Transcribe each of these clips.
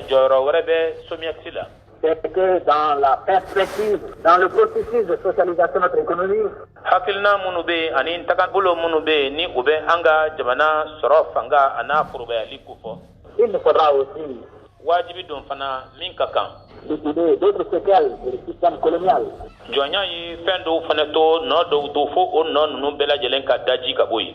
jɔyɔrɔ wɛrɛ bɛ somiyɛsi la c'est que dans la perspective, dans le processus de socialisation de notre économie, hakilina minnu bɛ yen ani tagabolo minnu bɛ yen ni u bɛ an ka jamana sɔrɔ fanga a n'a forobayali ko fɔ. il nous faudra aussi wajibi don fana min ka kan. liquider d'autres séquelles du système colonial. jɔnya ye fɛn dɔw fana to nɔ dɔw to fo o nɔ ninnu bɛɛ lajɛlen ka daji ka bɔ yen.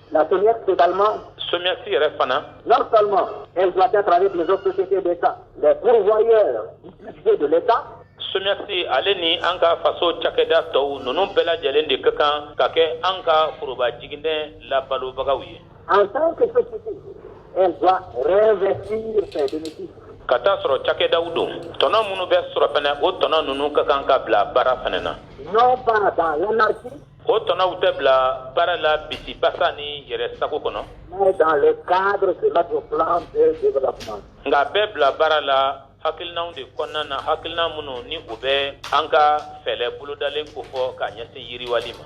La SOMIEX également. Somiyɛsi yɛrɛ fana. Non seulement elle doit être avec les autres sociétés d'État, les pourvoyeurs du budget de l'État. Somiyɛsi ale ni an ka faso cakɛda tɔw ninnu bɛɛ lajɛlen de ka kan ka kɛ an ka foroba jiginɛ labalobagaw ye. En tant que société, elle doit réinvestir ses bénéfices. Ka taa sɔrɔ cakɛdaw don tɔnɔ minnu bɛ sɔrɔ fana o tɔnɔ ninnu ka kan ka bila baara fana na. Non pas dans l'anarchie. O tɔnɔw tɛ bila baara la bisimilabasa ni yɛrɛ sagogo kɔnɔ nka bɛ bila baara la hakilikilina de kɔnɔna na hakilikilina minnu ni u bɛ an ka fɛɛrɛ bolodalen ko fɔ k kaa ɲɛsin yiriwa ma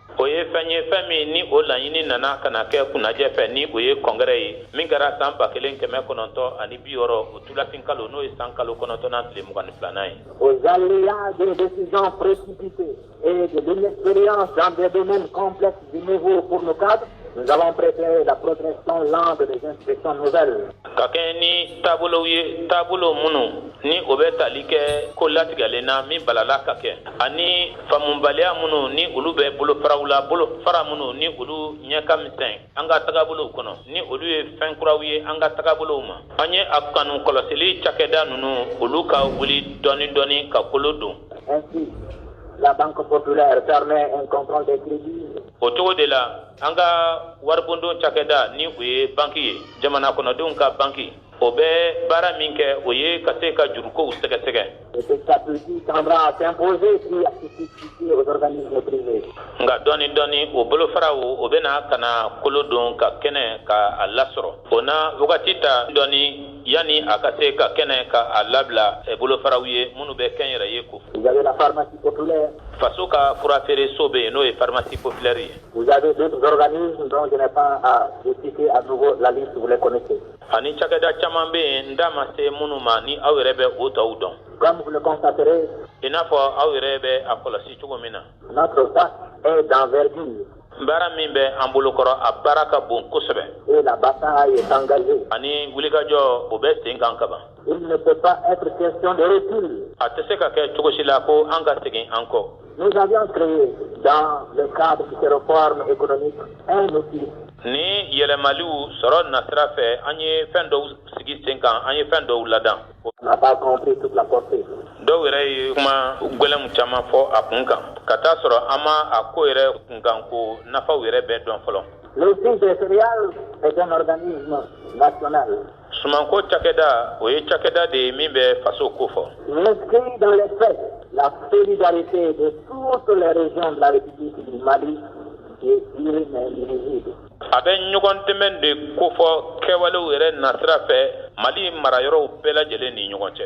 o ye fɛn ye fɛn min ni o laɲini nana ka na kɛ kunnajɛ fɛ ni o ye kɔngɛrɛ ye min kɛra san ba kelen kɛmɛ kɔnɔntɔn ani bi wɔɔrɔ o tulafin kalo n'o ye san kalo kɔnɔntɔnnan tile mugan ni filanan ye aux aléas des décisions précipitées et de l'inexpérience dans des domaines complexes et nouveaux pour nos cadres Nous avons préféré la progression lente des institutions nouvelles. Ka kɛɲɛ ni taabolow ye taabolo minnu ni o bɛ tali kɛ ko latigɛlen na min balala ka kɛ ani faamubaliya minnu ni olu bɛ bolofaraw la bolofara minnu ni olu ɲɛ ka misɛn an ka tagabolow kɔnɔ ni olu ye fɛn kuraw ye an ka tagabolow ma an ye a kanu kɔlɔsili cakɛda ninnu olu ka wuli dɔɔni dɔɔni ka kolo don. Ainsi, la Banque populaire permet un contrôle des crédits o cogo de la an ka waribondon cakɛda ni o ye banki ye jamana kɔnɔdenw ka banki o bɛ baara min kɛ o ye ka se ka jurukow sɛgɛsɛgɛ et petit à petit tendra à s'imposer puis à se substituer aux organismes privés nka dɔɔni dɔɔni o bolofaraw o bɛna ka na kolo don ka kɛnɛ ka a lasɔrɔ o na wagati ta dɔɔni yanni a ka se ka kɛnɛ ka a labila bolofaraw ye minnu bɛ kɛn yɛrɛ ye ko faso ka fura feereere so bɛ yen n'o ye faramasi pplɛre ye ani cada caman bɛ yen n da ma se minnu ma ni aw yɛrɛ bɛ o tɔw dɔn in n'a fɔ aw yɛrɛ bɛ a kɔlɔsi cogo min na Notre tâche est d'envergure. Baara min bɛ an bolokɔrɔ a baara ka bon kosɛbɛ. Et la bataille est engagée. Ani wulikajɔ o bɛ sen kan kaban. Il ne peut pas être question de recul. A tɛ se ka kɛ cogo si la ko an ka segin an kɔ. Nous avions créé dans le cadre de ces réformes économiques un outil. Ni yɛlɛmaliw sɔrɔ nasira fɛ, an ye fɛn dɔw sigi sen kan, an ye fɛn dɔw ladan. Dɔw yɛrɛ ye kuma gɛlɛnw caman fɔ a kun kan ka t'a sɔrɔ an ma a ko yɛrɛ kunkan ko nafaw yɛrɛ bɛɛ dɔn fɔlɔ L'Office des céréales est un organisme national sumanko cakɛda o ye cakɛda de ye min bɛ faso ko fɔ a bɛ ɲɔgɔn dɛmɛ de kofɔ kɛwalew yɛrɛ nasira fɛ mali mara yɔrɔw bɛɛ lajɛlen ni ɲɔgɔn cɛ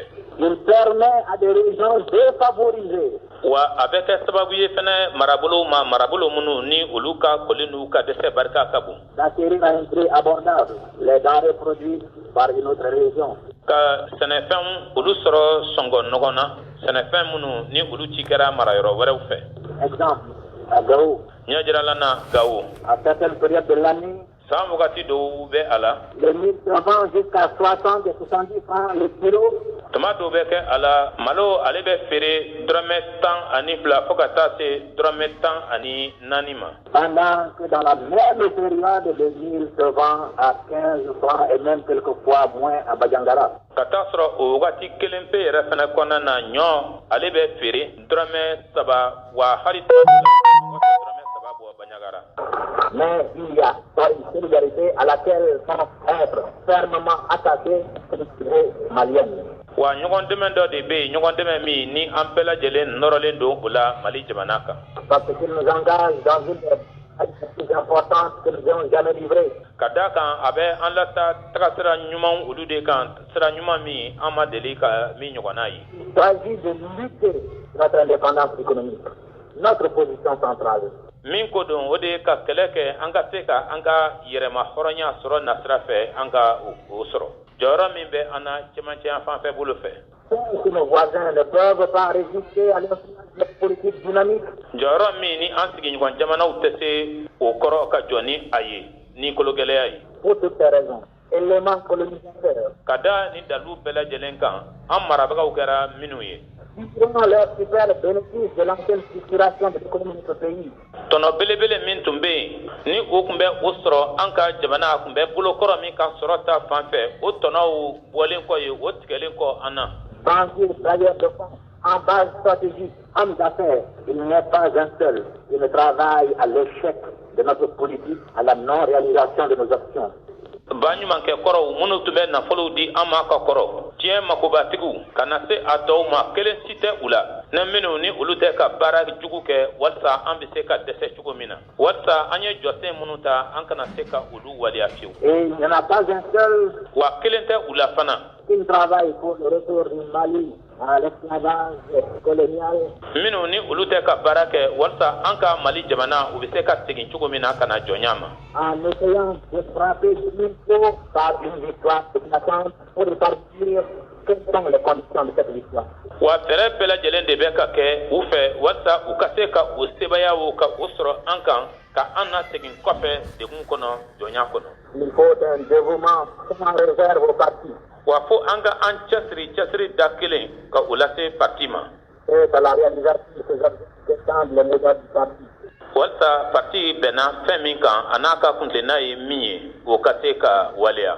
wa a bɛ kɛ sababu ye fana marabolo ma marabolo minnu ni olu ka kɔlen uu ka dɛsɛ barika ka bon ka sɛnɛfɛn olu sɔrɔ sɔngɔ ɲɔgɔn na sɛnɛfɛn minnu ni olu ci kɛra mara yɔrɔ wɛrɛw fɛ Ɲɛ jirala na gawo a ka kɛ bereya bɛ la san wagati dɔw bɛ a la ka fulasan san tuma dɔw bɛ kɛ a la malo ale bɛ feere dmɛ tan ani fila fo ka taa se dmɛ tan ani naani ma a kɛ a ka t'a sɔrɔ o waati wagati kelen pe yɛrɛ fana kɔnɔna na ɲɔ ale bɛ feere dɔrɔmɛ saba wa hali dɔrɔmɛ saba bɔ Banjagara mais il y a une solidarité à laquelle vont être fermement attachés les maliens wa ɲɔgɔn dɛmɛ dɔ de bɛ yen ɲɔgɔn dɛmɛ min ni an bɛɛ lajɛlen nɔrɔlen don o la mali jamana kan parce qu'il nous engage dans une action plus importante que nous n'avons jamais livrée ka d'a kan a bɛ an lata tagasira ɲumanw olu de kan Sira ɲuman min an ma deli ka min ɲɔgɔn ye baji de natooli min ko don o de ye ka kɛlɛ kɛ an ka se ka an ka yɛrɛma hɔrɔnya sɔrɔ nasira fɛ an ka o sɔrɔ jɔyɔrɔ min bɛ an cɛmancɛya fan fɛ bolo fɛ jɔyɔrɔ min ni an sigiɲɔgɔn jamanaw tɛ se o kɔrɔ ka jɔn ni a ye ni kolo gɛlɛyaya ye élément colonisateur ka da nin dalilu bɛɛ lajɛlen kan an marabagaw kɛra minnu ye tɔnɔ belebele min tun bɛ yen ni o tun bɛ o sɔrɔ an ka jamana a tun bɛ bolo kɔrɔ min ka sɔrɔ ta fan fɛ o tɔnɔw bɔlen kɔ ye o tigɛlen kɔ an na En base stratégique, hommes d'affaires, il n'est pas un seul qui ne travaille à l'échec de notre politique, à la non-réalisation de nos actions. ba ɲumankɛ kɔrɔw minnu tun bɛ nafolow di an ma ka kɔrɔ diɲɛ makobatigiw ka na se a tɔw ma kelen si tɛ u la ni minnu ni olu tɛ ka baara jugu kɛ walisa an bɛ se ka dɛsɛ cogo min na walisa an ye jɔsen minnu ta an kana se ka olu waleya fiyewu wa kelen tɛ u la fana minnu ni olu tɛ ka baara kɛ walisa an ka mali jamana u bɛ se ka segin cogo min na ka na jɔnya ma wa fɛɛrɛ bɛɛ lajɛlen de bɛ ka kɛ u fɛ walisa u ka se ka o sebaaya o ka o sɔrɔ an kan ka an nasegin kɔfɛ degun kɔnɔ jɔnya kɔnɔ wa fo an ka an cɛsiri cɛsiri da kelen ka o lase parti ma walisa parti bɛnna fɛn min kan a n'a ka kuntilenna ye min ye o ka se ka waleya